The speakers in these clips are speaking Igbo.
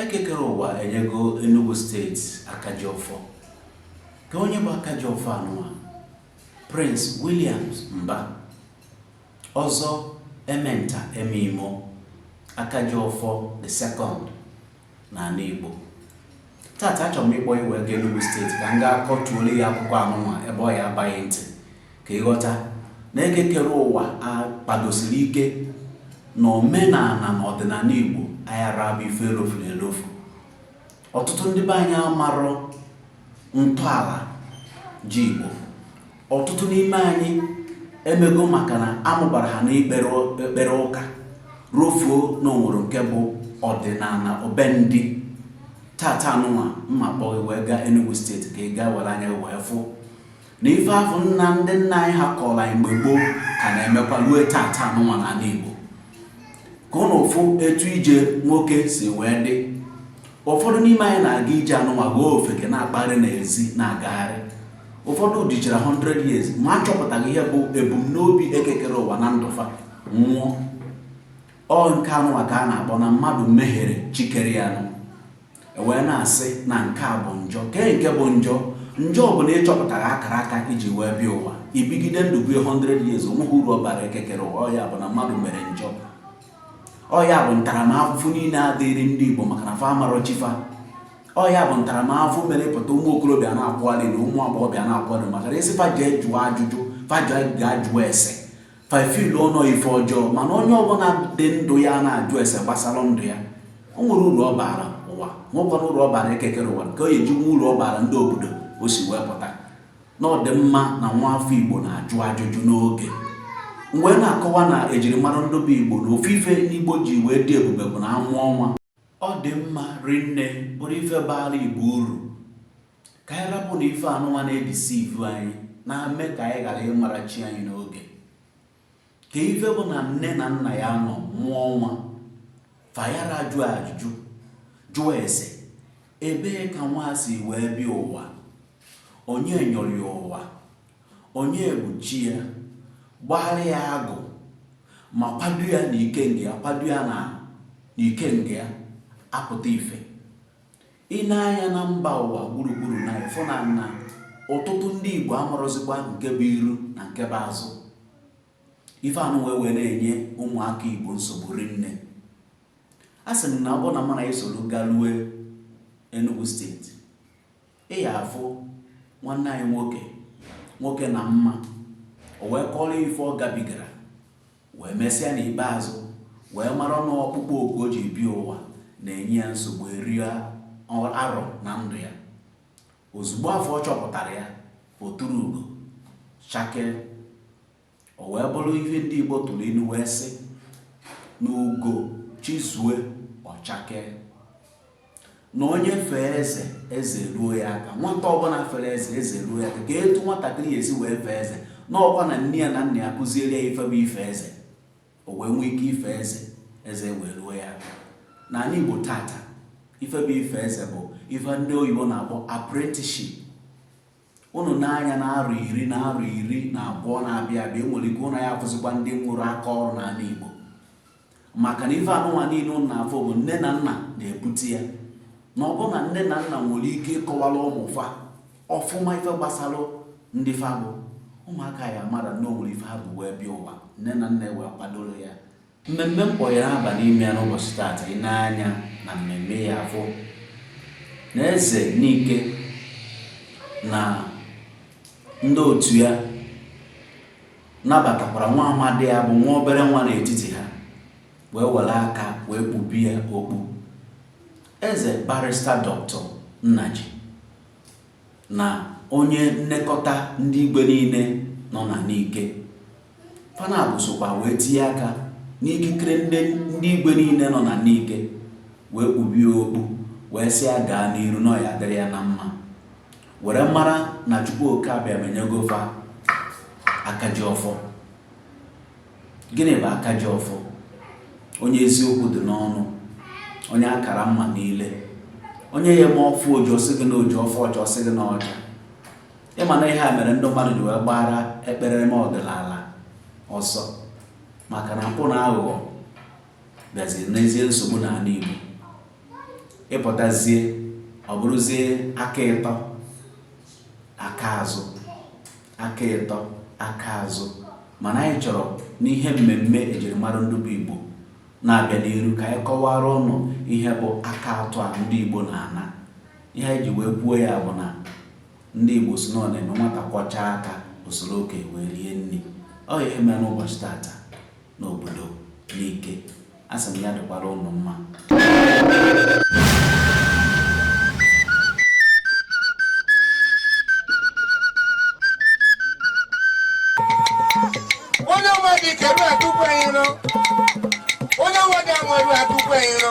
Ekekere ụwa enyego Enugu steeti Akajiọfọ. Kee onye bụ Akajiọfọ anụwa? Prince Williams Mba. Ọzọ Ementa Emeimo Akajiọfọ the second n'ala Igbo. Tata achọrọ m ịkpọ ị wee gaa Enugu steeti ka m gaa kọtụọrọ ị akụkọ anụnwa ebe ọ ya-aba ghị ntị ka ị ghọta na eke kere ụwa akpadosiri ike na omenala na ọdịnala Igbo ayara abụ ife elofuru elofu ọtụtụ ndị be anyị amarọ ntọala ji Igbo ọtụtụ n'ime anyị emego maka na a mụbara ha n'ekpere ụka rofuo na o nwere nke bụ ọdịnala obe ndị tata anụnwa m ma-akpọ ghị wee gaa Enugu steeti ka ị gaa were anya wee fụ na ife afụ na ndị nna anyị ha kọrọ anyị mgbe gboo ka na-emekwa ruo tata anụnwa n'ala Igbo ka ụnụ fụ etu ije nwoke si wee dị ụfọdụ n'ime anyị na-aga ije anụnwa ghọọ ofeke na-akpagharị n'ezi na-agagharị ụfọdụ dịchara 100 years ma achọpụtaghị ihe bụ ebumnobi ekekere ụwa na ndụ fa nwụọ ọ nke anụnwa ka a na-akpọ na mmadụ mehiere chi kere ya ụnụ ewee na-asị na nke a bụ njọ kee nke bụ njọ njọ bụ na ị chọpụtaghị akara aka i ji wee bịa ụwa i bigide ndụ bie 100 years o nweghị uru ọ bara ekekere ụwa ọ ya bụ na mmadụ mere njọ ọ ya bụ ntaramahụhụ niile a dịrị ndị Igbo maka na fa amarọ chi fa ọ ya bụ ntaramahụhụ mere pụta ụmụ okorobịa na-akwụgharị na ụmụ agbọghọbịa na-akwụgharị maka na a sị fa jee jụọ ajụjụ fa jee gaa jụọ ese fa fụlụ na ọ ife ọjọọ mana onye ọbụla dị ndụ ya na-ajụ ese gbasara ndụ ya o nwere uru ọ baara ụwa nwekwana uru ọ baara ekekere ụwa ka o ji nwe uru ọ baara ndị obodo o si wee pụta na ọ dị mma na nwaafọ Igbo na-ajụ ajụjụ n'oge m wee na-akọwa na ejirimara ndị be Igbo na ofu ife n'Igbo ji wee dị ebube bụ na a mụọ nwa ọ dị mma rinne bụrụ ife baara Igbo uru ka anyị rapụ na ife anụnwa na-edeceive anyị na-eme ka anyị ghara ịmara chi anyị n'oge ka ife bụ na nne na nna ya nọ mụọ nwa fa ayara jụọ ajụjụ jụọ ese ebee ka nwa si wee bịa ụwa onye nyọrọ ya ụwa onye bụ chi ya gbaara ya agụ ma kwado ya na ike nke ya kwado ya na ike nke ya apụta ife Ị nee anya na mba ụwa gburugburu na ị fụ na na ọtụtụ ndị Igbo amarọzikwa nke bụ iru na nke bụ azụ. Ife anụnwa wee na-enye ụmụaka Igbo nsogbu rinne. A sị m na ọ bụrụ na mụ na i soro galue Enugu steeti, ị ya afụ nwanne anyị nwoke nwoke na mma o wee kọrọ ife ọ gabigara wee mesịa n'ikpeazụ wee mara na ọkpụkpọ oku o ji bịa ụwa na-enye ya nsogbu eri arọ na ndụ ya. Ozugbo afọ ọ chọpụtara ya, o turu ugo, chakee. O wee bụrụ ihe ndị Igbo tụrụ inu wee sị na ugo chizue, ọ chakee. na onye fee eze eze ruo ya aka nwata ọbụla fere eze eze ruo ya aka kee etu nwatakịrị ya-esi wee fee eze na ọkwa na nne ya na nna ya kụziere ya ife bụ ife eze o wee nwee ike ife eze eze wee ruo ya aka n'anị Igbo tata ife bụ ife eze bụ ife ndị oyibo na-akpọ apprenticeship Ụnụ nee anya na arọ iri na arọ iri na abụọ na-abịa abịa e nwere ike ụnụ aya-afụzikwa ndị nwere aka ọrụ n'ala Igbo maka na ife anụnwa niile ụnụ na-afụ bụ nne na nna na-ebute ya na ọ bụrụ na nne na nna nwere ike ịkọwara ụmụ fa ọfụma ife gbasara ndị fa bụ ụmụaka ya mara na o nwere ife ha bu wee bịa ụwa nne na nna wee kwadoro ya Mmemme m kpọ anyị aba n'ime ya n'ụbọchị taata ị nee anya na mmemme ị ya-afụ na eze Nike na ndị otu ya nabatakwara nwa amadi ya bụ nwa obere nwa n'etiti ha wee were aka wee kpube ya okpu eze barista dọkịta Nnaji na onye nnekọta ndị igwe niile nọ na Nike Fa naabọ sokwa wee tinye aka n'ikikere ndị igwe niile nọ na Nike wee kpubie okpu wee sị ya gaa n'iru na ọ ya-adịrị ya na mma were mara na Chukwu oke Abịama enyego fa aka ji ọfọ gịnị bụ aka ji ọfọ onye eziokwu dị n'ọnụ onye akara mma niile onye ya-eme ọ fụ oji ọ sị gị na oji ọ fụ ọcha ọ sị gị na ọcha ị ma na ihe a mere ndị mmadụ ji wee gbara ekpere ọdịnala ọsọ maka na mpụ na aghụghọ bịaziri nyezie nsogbu n'ala Igbo ị pụtazie ọ bụrụzie aka ịtọ aka azụ aka ịtọ aka azụ mana anyị chọrọ n'ihe mmemme ejirimara ndị bụ Igbo na-abịa n'iru ka anyị kọwara ụnụ ihe bụ aka atọ a ndị Igbo na-ana ihe anyị ji wee kwuo ya bụ na Ndị Igbo sị na ọ na-eme nwata kwọchaa aka o soro okenye rie nri ọ ihe mere n'ụbọchị tata n'obodo Nike a sị m ya dịkwara ụnụ mma onye ọma dị ike ruo atụkwa iro onye ọma dị ama ruo atụkwa iro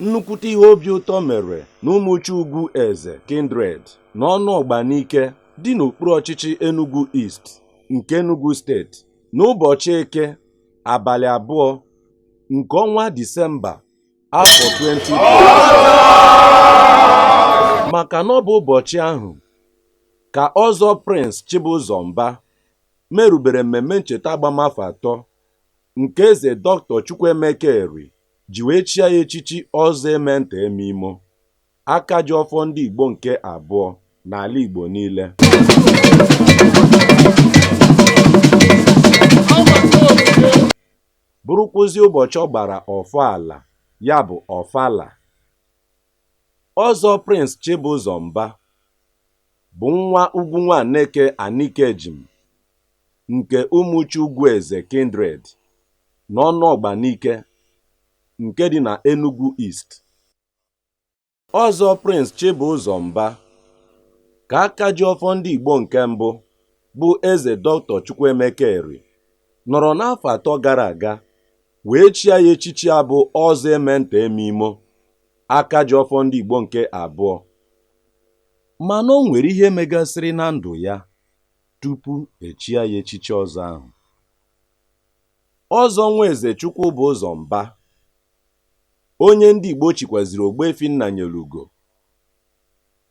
nnukwute ihe obi ụtọ mere na ụmụchi ugwueze kindred na ọnụọgba nike dị n'okpuru ọchịchị enugu east nke Enugu steeti n'ụbọchị eke abalị abụọ nke ọnwa Disemba afọ 2020 maka na ọ bụ ụbọchị ahụ ka ọzọ Prince Chibụzọ Mba merubere mmemme ncheta agbamafọ atọ nke eze Dr. Chukwuemeka Eri ji wee chia ya echichi ọzọ Ementa Emeimo aka ji ọfọ ndị Igbo nke abụọ n'ala Igbo niile bụrụkwụzi ụbọchị ọ gbara ọfala ya bụ ọfala ọzọ Prince Chibụzọ Mba bụ nwa Ugwu Nwaneke Anikejim nke Umuchi Ugwueze Kindred na Ọnụọgba Nike nke dị na Enugu East Ọzọ Prince Chibụzọ Mba ka aka ji ọfọ ndị Igbo nke mbụ bụ Eze Dr. Chukwuemeka Eri nọrọ n'afọ atọ gara aga wee chia ya echichi a bụ Ọzọ Ementa Emeimo aka ji ọfọ ndị Igbo nke abụọ mana o nwere ihe megasịrị na ndụ ya tupu e chia ya echichi ọzọ ahụ Ọzọ Nwaeze Chukwubụzọ Mba onye ndị Igbo chikwaziri Ogbuefi Nnanyelugo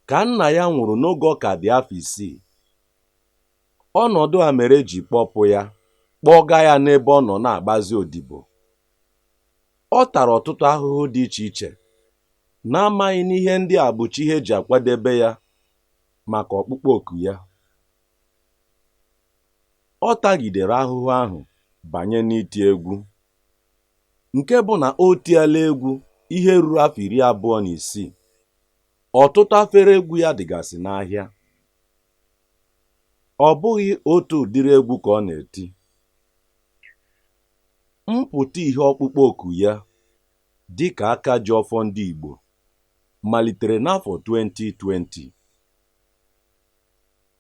ka nna ya nwụrụ n'oge ọ ka dị afọ isii ọnọdụ a mere e ji kpọpụ ya kpọga ya n'ebe ọ nọ na-agbazi odibo ọ tara ọtụtụ ahụhụ dị iche iche n'amaghị na ihe ndị a bụcha ihe e ji akwadebe ya maka ọkpụkpọ oku ya ọ tagidere ahụhụ ahụ banye n'iti egwu nke bụ na o tiela egwu ihe ruru afọ iri abụọ na isii ọtụtụ afere egwu ya dịgasị n'ahịa ọ bụghị otu ụdịrị egwu ka ọ na-eti mpụta ihe ọkpụkpọ oku ya dị ka aka ji ọfọ ndị Igbo malitere n'afọ 2020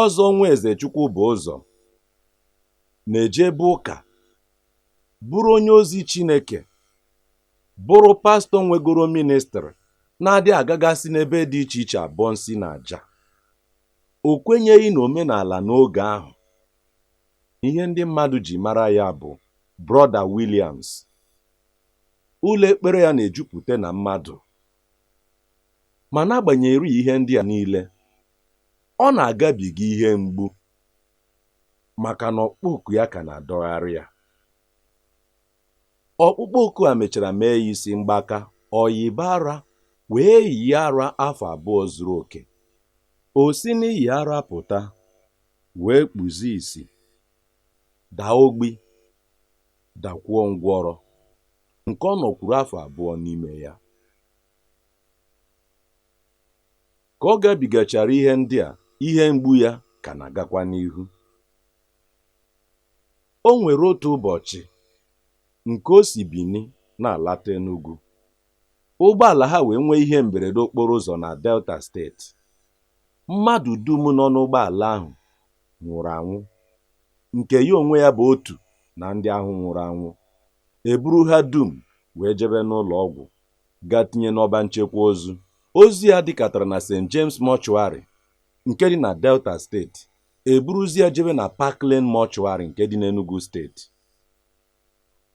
Ọzọ Nwaeze Chukwubụzọ na-ejebe ụka bụrụ onye ozi Chineke bụrụ pastọ nwegoro ministrị na-adị agagasị n'ebe dị iche iche abọ nsi na aja o kwenyeghị na omenala n'oge ahụ ihe ndị mmadụ ji mara ya bụ brọda Williams ụlọ ekpere ya na-ejupụta na mmadụ ma n'agbanyeghị ihe ndị a niile Ọ na-agabiga ihe mgbu maka na ọkpụkpọ oku ya ka na-adọgharị ya. Ọkpụkpọ oku a mechara mee ya isi mgbaka, o yiba ara wee yie ara afọ abụọ zuru oke. O si n'iyi ara pụta wee kpuzie isi, daa ogbi, dakwuo ngwọrọ nke ọ nọkwuru afọ abụọ n'ime ya. Ka ọ gabigachara ihe ndị a, ihe mgbu ya ka na-agakwa n'ihu. O nwere otu ụbọchị nke o si Bini na-alata Enugu, ụgbọala ha wee nwee ihe mberede okporo ụzọ na Delta steeti. Mmadụ dum nọ n'ụgbọala ahụ nwụrụ anwụ, nke ya onwe ya bụ otu na ndị ahụ nwụrụ anwụ. E buru ha dum wee jebe n'ụlọ ọgwụ ga tinye n'ọba nchekwa ozu ozu ya dịkatara na St James Mortuary nke dị na Delta steeti e buruzi ya jebe na Park Lane Mortuary nke dị n'Enugu steeti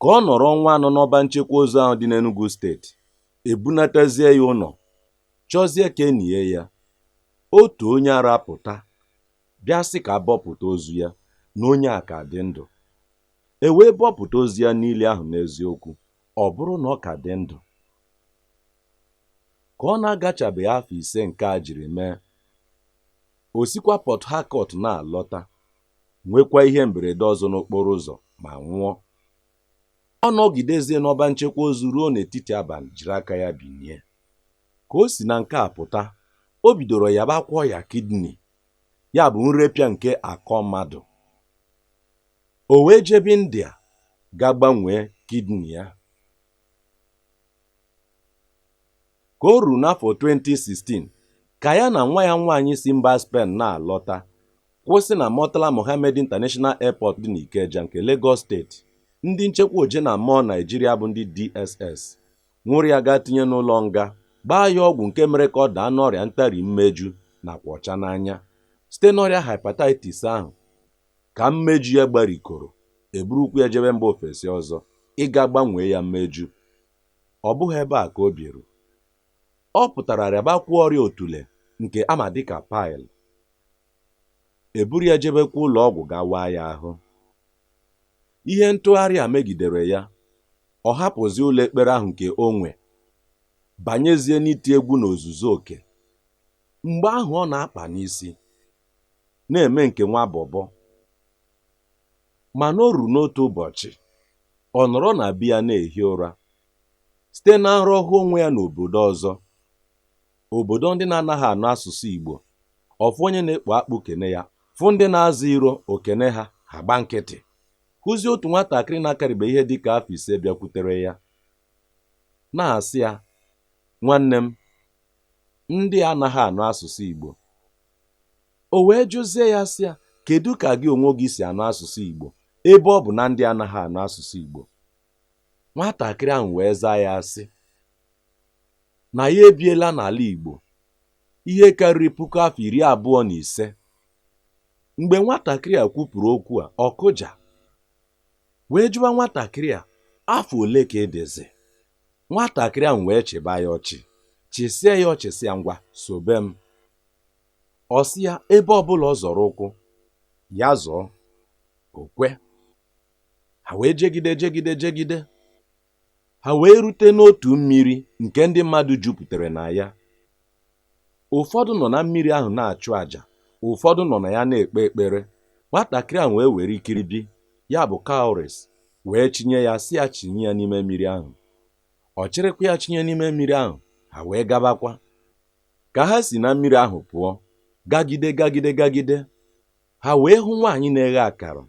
ka ọ nọrọ ọnwa anọ n'ọba nchekwa ozu ahụ dị n'Enugu steeti e bunatazie ya ụlọ chọzie ka e nie ya otu onye ara pụta bịa sị ka a bọpụta ozu ya na onye a ka dị ndụ e wee bọpụta ozu ya n'ili ahụ n'eziokwu ọ bụrụ na ọ ka dị ndụ. Ka ọ na-agachabeghị afọ ise nke a jiri mee, o sikwa Port Harcourt na-alọta, nwekwa ihe mberede ọzọ n'okporo ụzọ ma nwụọ. Ọ nọgidezie n'ọba nchekwa ozu ruo n'etiti abalị jiri aka ya binie. Ka o si na nke a pụta, o bidoro yabakwa ọya kidney, ya bụ nrepịa nke akọ mmadụ. O wee jebe India ga gbanwee kidney ya. Ka o ruru n'afọ 2016, ka ya na nwa ya nwaanyị si mba Spen na-alọta, kwụsị na Murtala Mohammed International Airport dị n'Ikeja nke Legọs steeti, ndị nchekwa oje na mmụọ Naịjirịa bụ ndị DSS nwụrụ ya gaa tinye n'ụlọ nga, gbaa ya ọgwụ nke mere ka ọ daa n'ọrịa ntari mmeju nakwa ọcha n'anya site n'ọrịa hepatitis ahụ. Ka mmeju ya gbarikoro, e burukwu ya jebe mba ofesi ọzọ ịga gbanwee ya mmeju. Ọ bụghị ebe a ka o biru. Ọ pụtara rịabakwuo ọrịa otule nke a ma dị ka pile. E buru ya jebekwa ụlọ ọgwụ gaa waa ya ahụ. Ihe ntụgharị a megidere ya, ọ hapụzie ụlọ ekpere ahụ nke o nwe, banyezie n'iti egwu n'ozuzu oke. Mgbe ahụ ọ na-akpanụ isi, na-eme nke nwa bọbọ mana o ruru n'otu ụbọchị ọ nọrọ na be ya na-ehi ụra site na nrọ ọ hụ onwe ya n'obodo ọzọ obodo ndị na-anaghị anụ asụsụ Igbo ọ fụ onye na-ekpo akpụ kene ya fụ ndị na-aza iro o kene ha ha gba nkịtị hụzie otu nwatakịrị na-akarịbe ihe dịka afọ ise bịakwutere ya na-asị ya nwanne m ndị a anaghị anụ asụsụ Igbo O wee jụzie ya sị ya, kedụ ka gị onwe gị si anụ asụsụ Igbo ebe ọ bụ na ndị a anaghị anụ asụsụ Igbo? Nwatakịrị ahụ wee zaa ya sị na ya ebiela n'ala Igbo ihe karịrị puku afọ iri abụọ na ise. Mgbe nwatakịrị a kwupụrụ okwu a, ọ kụja wee jụba nwatakịrị a afọ ole ka ị dịzi? Nwatakịrị ahụ wee chịba ya ọchị, chịsịa ya ọchị sị ya ngwa sobe m. ọ sị ya ebe ọbụla ọ zọrọ ụkwụ ya zọọ o kwe ha wee jegide jegide jegide ha wee rute n'otu mmiri nke ndị mmadụ jupụtara na ya ụfọdụ nọ na mmiri ahụ na-achụ àjà ụfọdụ nọ na ya na-ekpe ekpere nwatakịrị ahụ wee were ikiribi ya bụ cowries wee chinye ya sị ya chinye ya n'ime mmiri ahụ ọ chịrịkwa ya chinye n'ime mmiri ahụ ha wee gabakwa ka ha si na mmiri ahụ pụọ gagide gagide gagide ha wee hụ nwaanyị na-eghe akara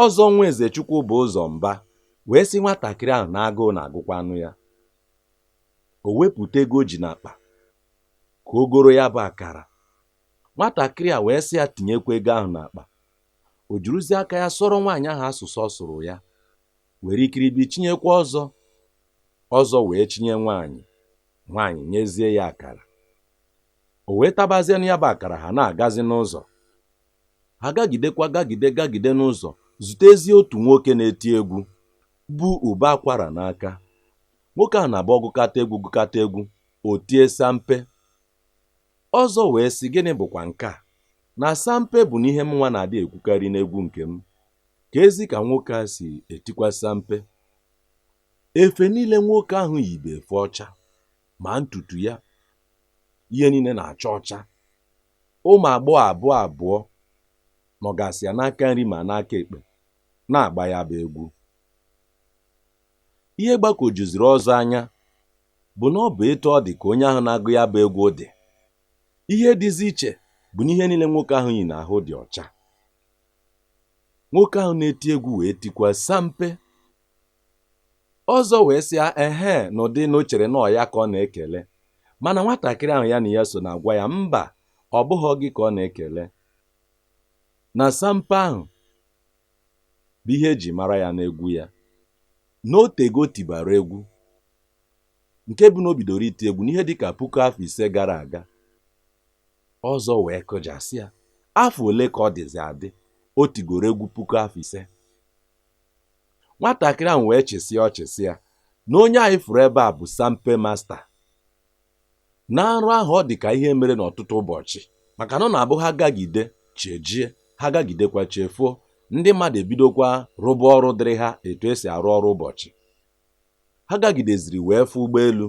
ọzọ nwa eze chukwubụzọ mba wee sị nwatakịrị ahụ na agụụ na-agụkwanụ ya o wepụta ego o ji n'akpa ka o goro ya bụ akara nwatakịrị a wee sị ya tinyekwa ego ahụ n'akpa o juruzie aka ya sụọrọ nwaanyị ahụ asụsụ ọ sụrụ ya were ikiribi chinyekwa ọzọ ọzọ wee chinye nwaanyị nwaanyị nyezie ya akara o wee tabazienụ ya bụ akara ha na-agazi n'ụzọ ha gagidekwa gagide gagide n'ụzọ zutezie otu nwoke na-eti egwu bụ ụbọ akwara n'aka nwoke a na-abụ ọ gụkata egwu gụkata egwu o tie sampe Ọzọ wee sị, Gịnị bụkwa nke a? Na sampe bụnụ ihe mụnwa na-adị ekwukarị n'egwu nke m. Keezi ka nwoke a si etikwa sampe. Efe niile nwoke ahụ yi bụ efe ọcha, ma ntutu ya, ihe niile na-acha ọcha. Ụmụ agbọghọ abụọ abụọ nọgasị ya n'aka nri ma n'aka ekpe na-agba ya bụ egwu. Ihe gbagwojuziri Ọzọ anya bụ na ọ bụ etu ọ dị ka onye ahụ na-agụ ya bụ egwu dị ihe dịzi iche bụ na ihe niile nwoke ahụ yi n'ahụ dị ọcha nwoke ahụ na-eti egwu wee tikwa sampe ọzọ wee sị ya ehee n'ụdị na o chere na ọ ya ka ọ na-ekele mana nwatakịrị ahụ ya na ya so na-agwa ya mba ọ bụghị gị ka ọ na-ekele na sampe ahụ bụ ihe e ji mara ya n'egwu ya na o tego o tibara egwu nke bụ na o bidoro iti egwu n'ihe dịka puku afọ ise gara aga ọzọ wee kụja sị ya afọ ole ka ọ dịzi adị o tigoro egwu puku afọ ise nwatakịrị ahụ wee chịsịa ọchị sị ya na onye anyị fụrụ ebe a bụ sampe masta na nrọ ahụ ọ dị ka ihe mere n'ọtụtụ ụbọchị maka na ọ na-abụ ha gagide chi ejie ha gagidekwa chi efoo ndị mmadụ ebidokwa rụba ọrụ dịrị ha etu e si arụ ọrụ ụbọchị ha gagideziri wee fụ ụgbọelu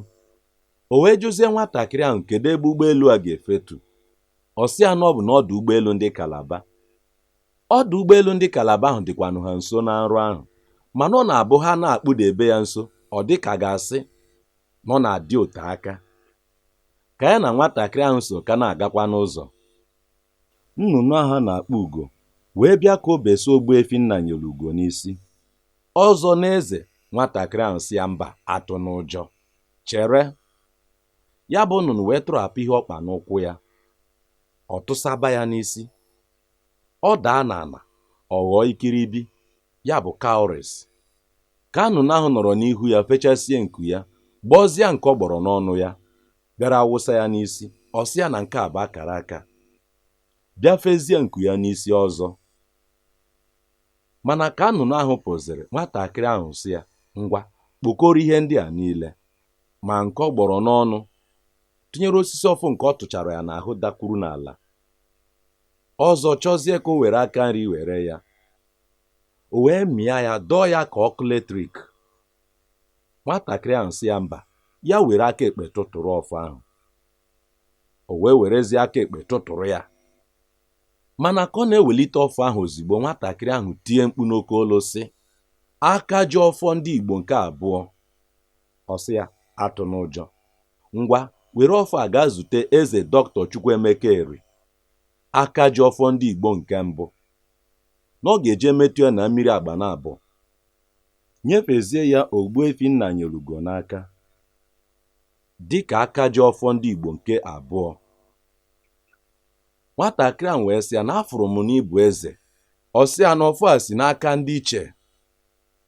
o wee jụzie nwatakịrị ahụ kedu ebe ụgbọelu a ga-efetu ọ sị ya na ọ bụ n'ọdụ ụgbọelu ndị kalaba ọdụ ụgbọelu ndị kalaba ahụ dịkwanụ ha nso na nrọ ahụ mana ọ na-abụ ha na-akpụdebe ya nso ọ dị ka a ga-asị na ọ na-adị ote aka ka ya na nwatakịrị ahụ so ka na-agakwa n'ụzọ nnụnụ ahụ a na-akpọ ugo wee bịa ka o beso ogbuefi nnanyereugo n'isi ọzọ na-eze nwatakịrị ahụ sị ya mba atụna ụjọ chere ya bụ nnụnụ wee tụrapụ ihe ọ kpa n'ụkwụ ya ọ tụsaba ya n'isi ọ daa n'ala ọ ghọọ ikiribia bụ cowries ka nnụnụ ahụ nọrọ n'ihu ya fechasie nku ya gbọzie nke ọ gbọrọ n'ọnụ ya bịara wụsa ya n'isi ọ sị ya na nke a bụ akara aka bịa fezie nku ya n'isi ọzọ mana ka nnụnụ ahụ pụziri nwatakịrị ahụ sị ya ngwa kpokọrọ ihe ndị a niile ma nke ọ gbọrọ n'ọnụ tinyere osisi ọfọ nke ọ tụchara ya n'ahụ dakwuru n'ala ọzọ chọzie ka o were aka nri were ya o wee mịa ya dọọ ya ka ọkụ letrik nwatakịrị ahụ sị ya mba ya were aka ekpe tụtụrụ ọfọ ahụ o wee werezie aka ekpe tụtụrụ ya mana ka ọ na-ewelite ọfọ ahụ ozigbo nwatakịrị ahụ tie mkpu n'oke olu sị akajiọfọ ndị Igbo nke abụọ ọ sị ya atụna ụjọ Ngwa, were ọfọ a gaa zute Eze Dọkịta Chukwuemeka Eri, aka ji ọfọ ndị Igbo nke mbụ, na ọ ga-eje metụ ya na mmiri agba na abụọ. Nyefezie ya Ogbuefi Nnanyelugo n'aka dịka aka ji ọfọ ndị Igbo nke abụọ. Nwatakịrị ahụ wee sị ya na afụrụ m na ị bụ eze. Ọ sị ya na ọfọ a si n'aka ndị iche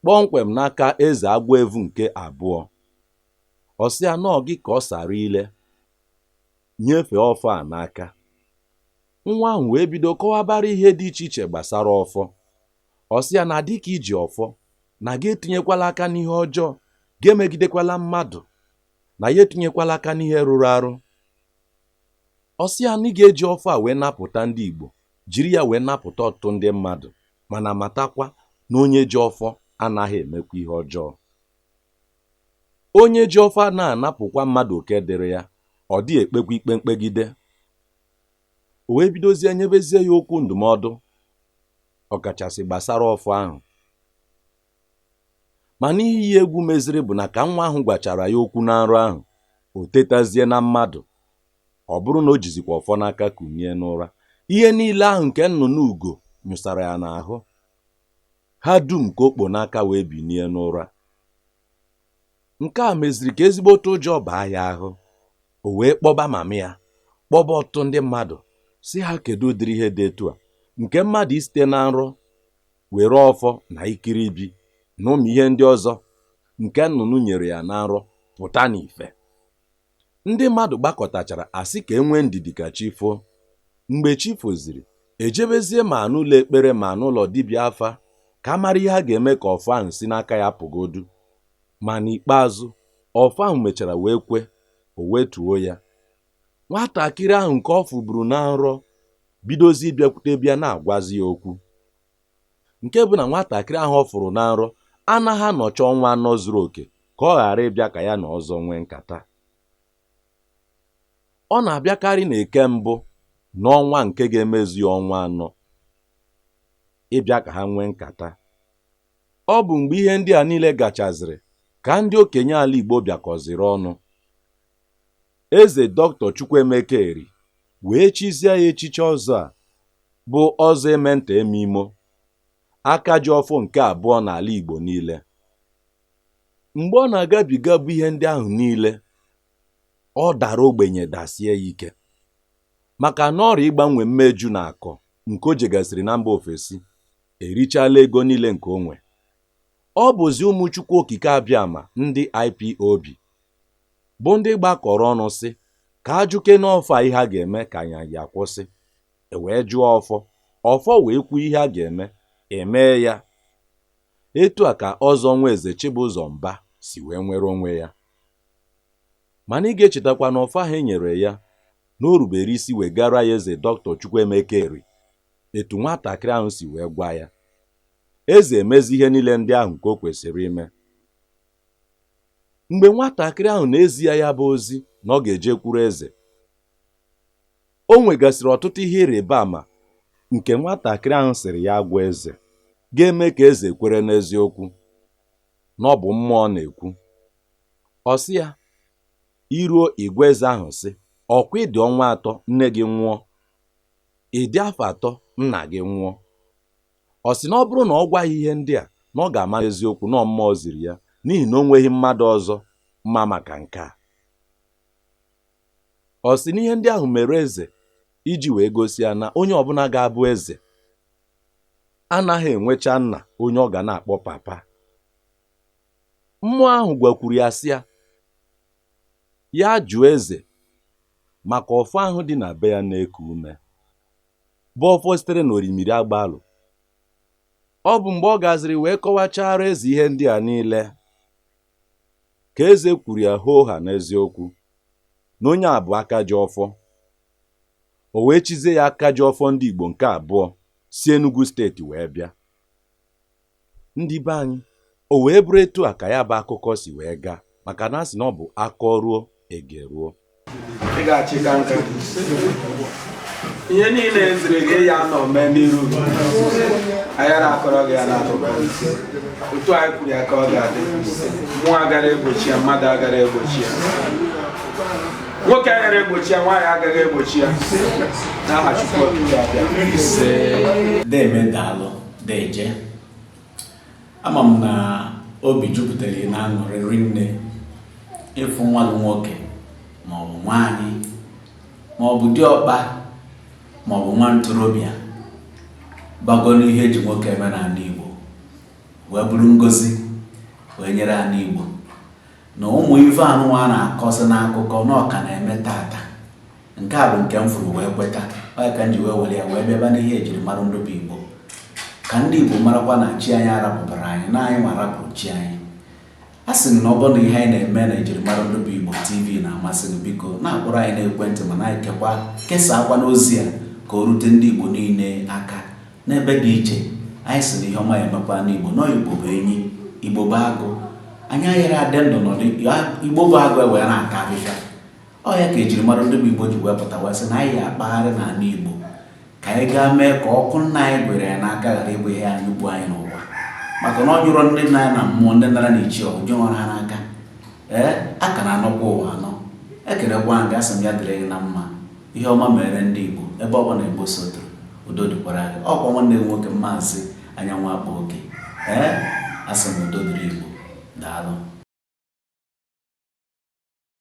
kpọmkwem n'aka eze agwọevu nke abụọ ọ sị ya na ọ gị ka ọ sara ile nyefee ọfọ a n'aka nwa ahụ wee bido kọwabara ihe dị iche iche gbasara ọfọ ọ sị ya na dịka i ji ọfọ na gị etinyekwala aka n'ihe ọjọọ gị emegidekwala mmadụ na gị etinyekwala aka n'ihe rụrụ arụ ọ sị ya na ị ga-eji ọfọ a wee napụta ndị Igbo jiri ya wee napụta ọtụtụ ndị mmadụ mana matakwa na onye ji ọfọ anaghị emekwa ihe ọjọọ onye ji ọfọ anaghị anapụkwa mmadụ oke dịrị ya ọ dịghị ekpekwa ikpe mkpegide o wee bidozie nyebezie ya okwu ndụmọdụ ọkachasị gbasara ọfọ ahụ mana ihe iyi egwu meziri bụ na ka nwa ahụ gwachara ya okwu na nrọ ahụ o tetazie na mmadụ ọ bụrụ na o jizikwa ọfọ n'aka kunie n'ụra ihe niile ahụ nke nnụnụ ugo nyụsara ya n'ahụ ha dum ka o kpo n'aka wee binie n'ụra nke a meziri ka ezigbote ụjọ baa ya ahụ o wee kpọba mama ya kpọba ọtụtụ ndị mmadụ sị ha kedu ụdịrị ihe dị etu a nke mmadụ isite na nrọ were ọfọ na ikiribi na ụmụ ihe ndị ọzọ nke nnụnụ nyere ya na nrọ pụta n'ife Ndị mmadụ gbakọtachara a sị ka e nwee ndidi ka chi foo. Mgbe chi foziri, e jebezie ma n'ụlọ ekpere ma n'ụlọ dibịa afa ka a mara ihe a ga-eme ka ọfọ ahụ si n'aka ya pụgodu. Ma n'ikpeazụ, ọfọ ahụ mechara wee kwe, o wetuo ya. Nwatakịrị ahụ nke ọ fụburu na nrọ bidozie bịakwutebe ya na-agwazi ya okwu. nke bụ na nwatakịrị ahụ ọ fụrụ na nrọ anaghị anọcha ọnwa anọ zuru oke ka ọ ghara ịbịa ka ya na ọzọ nwee nkata ọ na-abịakarị na eke mbụ n'ọnwa nke ga-emezu ya ọnwa anọ ịbịa ka ha nwee nkata ọ bụ mgbe ihe ndị a niile gachaziri ka ndị okenye ala Igbo bịakọziri ọnụ eze dọkịta Chukwuemeka Eri wee chizie ya echichi ọzọ a bụ ọzọ eme nta eme imo aka ji ọfọ nke abụọ n'ala Igbo niile mgbe ọ na-agabiga bụ ihe ndị ahụ niile ọ dara ogbenye dasie ya ike maka na ọrịa ịgbanwe mmeju na akọ nke o jegasịrị na mba ofesi erichala ego niile nke o nwe ọ bụzi ụmụ Chukwu Okike Abịama ndị IPOB bụ ndị gbakọrọ ọnụ sị ka a jụkene ọfọ a ihe a ga-eme ka anya ya kwụsị e wee jụọ ọfọ ọfọ wee kwuo ihe a ga-eme e mee ya etu a ka Ọzọ Nwaeze Chibụzọ Mba si wee nwere onwe ya mana ị ga-echetakwa na ọfọ ahụ e nyere ya na o rubere isi wegara ya eze Dọktọ Chukwuemeka Eri etu nwatakịrị ahụ si wee gwa ya eze emezi ihe niile ndị ahụ nke o kwesịrị ime mgbe nwatakịrị ahụ na-ezi ya ya bụ ozi na ọ ga-ejekwuru eze o nwegasịrị ọtụtụ ihe ịrịba ama nke nwatakịrị ahụ sịrị ya gwa eze ga-eme ka eze kwere n'eziokwu na ọ bụ mmụọ na-ekwu ọ sị ya i ruo ị gwa eze ahụ sị ọ kwa ị dị ọnwa atọ nne gị nwụọ ị dị afọ atọ nna gị nwụọ Ọ sị na ọ bụrụ na ọ gwa ya ihe ndị a, na ọ ga-ama n'eziokwu na ọ mmụọ ziri ya n'ihi na o nweghị mmadụ ọzọ ma maka nke a. Ọ sị na ihe ndị ahụ mere eze iji wee gosi ya na onye ọbụla ga-abụ eze anaghị enwecha nna onye ọ ga na-akpọ papa. Mmụọ ahụ gwakwuru ya sị ya ya jụọ eze maka ọfọ ahụ dị na be ya na-eku ume. bụ ọfọ sitere na orimiri Agbalụ ọ bụ mgbe ọ gaziri wee kọwachara eze ihe ndị a niile ka eze kwuru ya hoo ha n'eziokwu na onye a bụ aka ji ọfọ o wee chizie ya aka ji ọfọ ndị Igbo nke abụọ si Enugu steeti wee bịa ndị be anyị o wee bụrụ etu a ka ya bụ akụkọ si wee gaa maka na a sị na ọ bụ a kọruo e geruo ị ga-achị ka nka ihe niile e ziri gị ya nọ mee n'iru gị. anyị na-akọrọ gị ya n'akụkọ otu anyị kwuru ya ka ọ ga-adị mmụọ agara egbochi ya mmadụ agara egbochi ya nwoke agara egbochi ya nwaanyị agaghị egbochi ya n'aha Chukwu Okike Abịama ise deeme daalụ Deeje, ama m na obi jupụtara na aṅụrị rinne ịfụ nwa gị nwoke maọbụ nwaanyị maọbụ diọkpa maọbụ nwa ntorobịa bago n'ihe e ji nwoke eme n'anị Igbo wee bụrụ ngozi wee nyere anị Igbo na ụmụ ife anụnwa a na-akọsị n'akụkọ na ọ ka na-eme taata nke a bụ nke m fụrụ wee kweta ọ ya ka m ji wee were ya wee bịaba n'ihe ejiri mara ndị bụ igbo ka ndị igbo marakwa na chi anyị arapụbara anyị na anyị nwa rapụrụ chi anyị a sị na ọ bụrụ na ihe anyị na-eme na ejiri mara ndị bụ igbo tv na-amasị gị biko na-akpọrọ anyị n'ekwentị ma na-ekekwa kesaakwanụ ozi a ka o rute ndị igbo niile aka n'ebe dị iche anyị sị na ihe ọma ya emekwa ndị igbo na igbo bụ enyi igbo bụ agụ anyị ayarọ adị ndụ ndị igbo bụ agụ ewee na-ata ahịhịa Ọ ya ka ejiri mara ndị bụ Igbo ji wee pụtawa sị na anyị ya-akpagharị n'ala Igbo ka anyị gaa mee ka ọkụ nna anyị gụnyere anyị n'aka ghara ịbụ ihe ya-anyụ ugbu anyị nwa maka na ọ nyụrọ ndị nna anyị na mmụọ ndị nara na ichie ọ nyụrọ ha n'aka ee a ka na-anọkwa ụwa anọ ekelekwa gị asị m ya dịrị gị na mma ihe ọma mere ndị Igbo ebe ọ bụla Igbo sotoro udo dịkwara gị ọ kwa nwanne gị nwoke maazị anyanwụ akpa oke ee asị m udo dịrị Igbo daalụ